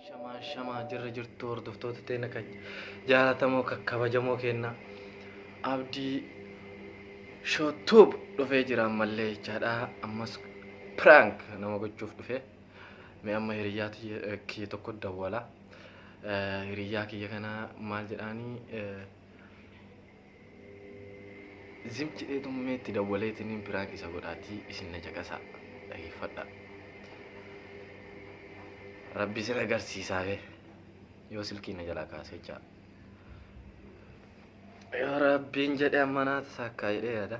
shamaa shamaa jirra jirtu hordoftoota teena kan jaalatamoo kakkabajamoo keenna abdii shootuub dhufee jira ammallee jechaadha ammas piraank nama gochuuf dhufe mee amma hiriyyaa tiyya- eh, kiyya tokko dawwala Eh, hiriyyaa kiyya kana maal jedhaanii eh, Zim jedhee tummee itti dawwaleetiniin piraank isa godhaatii isin na caqasaa dhageeffadha. Rabbi sira garsiisaa bee yoo silkii na jalaa kaasee jaa. Yoo rabbiin jedhe amma naata saakkaa jedhee yaada.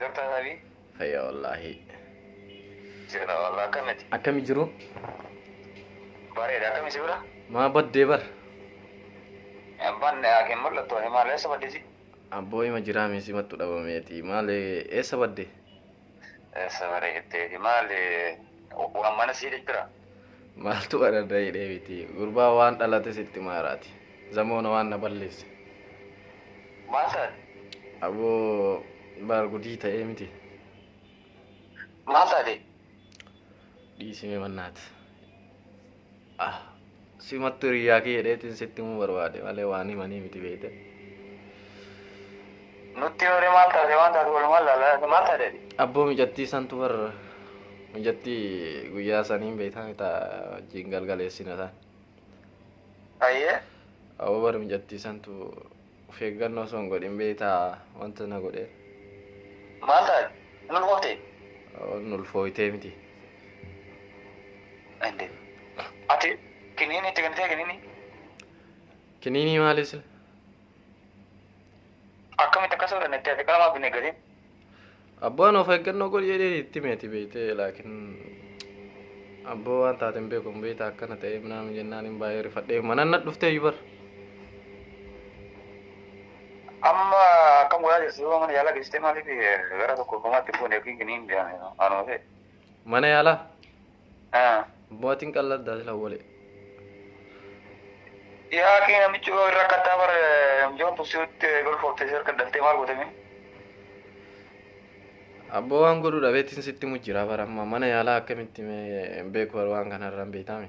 Jirta Nabi? Fayya wallaahi. Jira wallah akkamiti? Akkami jiru? Bareeda akkami si bira? Maa baddee bar? Banne yaakiin mul'attu ani maal eessa baddisi? Abboo hima jiraa mee simattu dhabameeti. Maal eessa badde? Eessa bareeddeeti maal waan mana sii jira? Maaltu ararda hidhee miti. Gurbaa waan dhalate sitti maaraati. Zamoona waan na balleesse. Maal taate? Aboo baar gudii ta'ee miti. Maal taate? Dhiisime mannaat. Ah. Simattu hiriyyaa kiyya dheetiin sitti himuu barbaade malee waan himanii miti beeyte. Nutti himre maal taate waan taate walumaan laala maal taate ati? Abboo mijattii santu bar mijattii guyyaa saniin beeytaa mitaa wajjin galgaleessina san. Ayyee. Abboo bar mijattii santu Of eeggannoo osoo hin godhin beektaa wanta na godhe. Maal taate? Hin ulfooftee? Hin ulfooftee miti. Ende. Ati kiniinii itti kennitee kiniinii? Kiniinii maalis? Akkamitti akkas godhan itti ati qalamaa binne gatiin? Abbaan of eeggannoo godhi jedhee itti hime ati beektee laakiin abboo waan taate hin beeku hin beekta akkana ta'ee minaan jennaan hin baay'ee rifadhee mana na dhuftee yubar. Amma akkam godhaa jirti yoo mana yaalaa geessitee maaliif gara tokko qomaatti fuunee yookiin giniin jedhan anuma ta'e. Mana yaalaa Ah. Bootiin qalladdaa sila wale. Yaa kee namichi yoo irra kattaa bara mijoon tuksiitti golfoofte si harka daltee maal gootame? Abboo waan godhu dhabeetiin sitti mujjira bara amma mana yaalaa akkamitti mee hin beeku bara waan kanarra hin beektaami.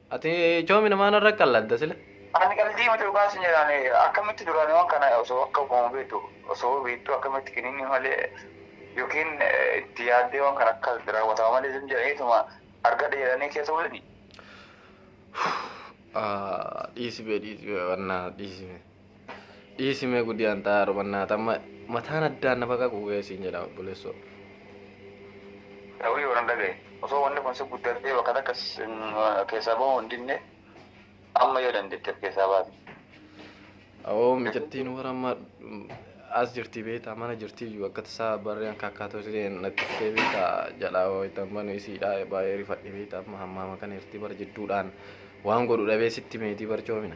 Ati coomi namaa narra qalladda sile. Ani qaldii miti dhugaa sin jedhaan akkamitti duraan waan kana osoo akka uumama beektu osoo beektu akkamitti kiniinni malee yookiin itti yaaddee waan kana akka raawwatama malee sin jedhaniituma argadhe jedhanii keessa bulani. Dhiisi bee dhiisi bee wannaa dhiisi bee. Dhiisi mee gudii an xaa'aa rubannaata amma mataan addaan na baqaquu ga'ee siin jedha obboleessoo. Dawii waran dhagaye osoo wanni kun si guddatee bakka takka keessaa bahuu hin dinne amma yoo dandeetteef keessaa baate. Awoo mijattiin warra amma as jirti beektaa mana jirti iyyuu akka tasaa barree akka akkaatoo isheen natti ishee beektaa jalaa wayita manu isiidhaa baay'ee rifadhe beektaa amma hammaama kana irratti bar jidduudhaan waan godhu dhabee sitti meetii barcoomina.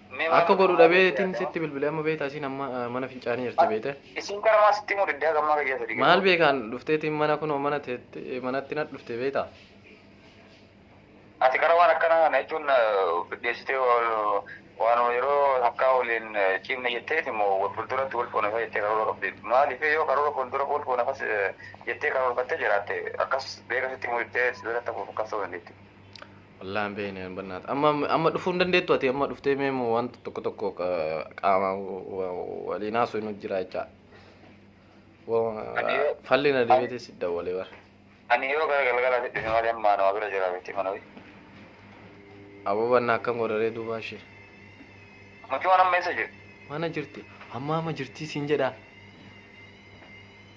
Akka godhu dhabeetiin sitti bilbilee amma beektaa isiin amma eh, mana fincaanii jirti beekte. Isiin gara maa sitti mudidde akka ammaa gayyaa sadii Maal beekaan dhufteetiin mana kunoo mana teetti- eh, manatti na dhufte beektaa. Ati gara waan akkanaa kana jechuun fiddeessitee waanuma yeroo takkaa waliin ciimne jetteeti immoo wal fuulduratti wal fuunafaa jettee karoora qabdi. Maaliif yoo karoora fuuldura wal fuunafas jettee karoorfattee jiraatte akkas beeka sitti mudidde sibiilatti hafuuf akkas ta'uu dandeetti. Wallahi hin beekne hin bannaata. Amma amma dhufuu hin dandeettu ati amma dhuftee mee moo wanta tokko tokko qa- qaama wa- waliin haasoo hin jira jechaa. Wa- Ani yoo- Falli na deebitee si dawwalee bara. Ani yoo gara galgalaatti dhufe malee ammaa nama bira jira beekti mana wayii. Aboo bannaa akkam godharee duubaa ishee. Mucaan amma eessa jiru? Mana jirti. Amma amma jirti siin jedhaa.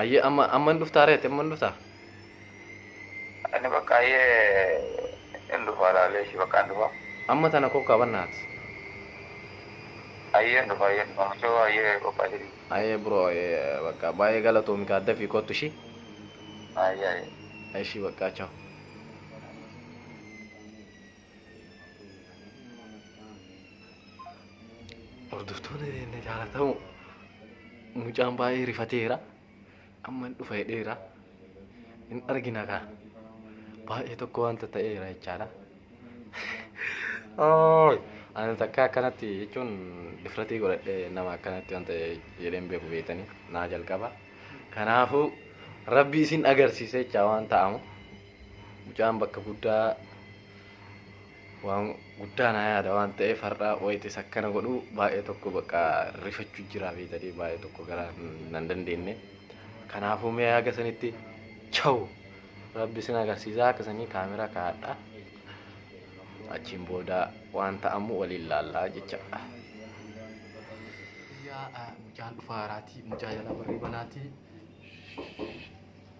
Ayyee amma amma hin dhuftaa reetti amma hin dhuftaa. Ani bakka ayyee hin dhufa laalee ishii bakka hin dhufa. Amma tana kokkaa bannaati. Ayyee hin dhufa ayyee hin dhufa mucoo ayyee qophaa'isii. Ayyee bro ayyee bakka baay'ee galatoomi kaa dafii kottu ishii. Ayyee ayyee. Ishii bakka chao. Hordoftoonni keenya jaalatamu mucaan baay'ee rifateera. Amma hin dhufa jedheera. Hin argina kaa. Baay'ee tokko wanta ta'eera jechaadha. Ooy! Ani takka akkanatti jechuun difratii godhadhee nama akkanatti wanta jedheen beeku beektanii naa jalqaba. Kanaafuu rabbi isin agarsiise jechaa waan ta'amu. Mucaan bakka guddaa waan guddaa naa yaada waan ta'eef har'a wayitis akkana godhu baay'ee tokko bakka rifachuu jira beetanii baay'ee tokko gara nan dandeenye. Kanaafuu mee haga sanitti chawu rabbi sin agarsiisaa akka sanii kaameraa kaa'adha. Achiin booda waan ta'amu waliin laallaa jechaadha. Yaa mucaan dhufaa haraatii mucaa jalaa barrii banaatii.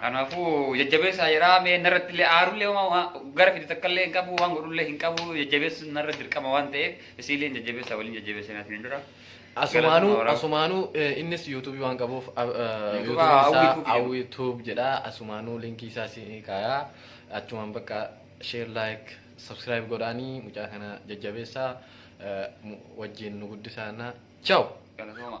Kanaafuu jajjabeessaa jedhaa mee narratti illee aarullee homaa gara fide takka illee hin qabu waan godhullee hin qabu jajjabeessuun narra dirqama waan ta'eef isiillee hin jajjabeessaa waliin jajjabeessinaa isin dura. Asumaanuu asumaanuu eh, innis yuutuubii waan qabuuf ah, eh, Yuutuuba yuutuubiin isaa Awwituub jedhu. awwituub jedha asumaanuu linkii isaa si kaayaa achumaan bakka sheer laayik sabskiraayib godhaanii mucaa kana jajjabeessaa eh, mu- wajjin nu guddisaana chaw. Galatooma.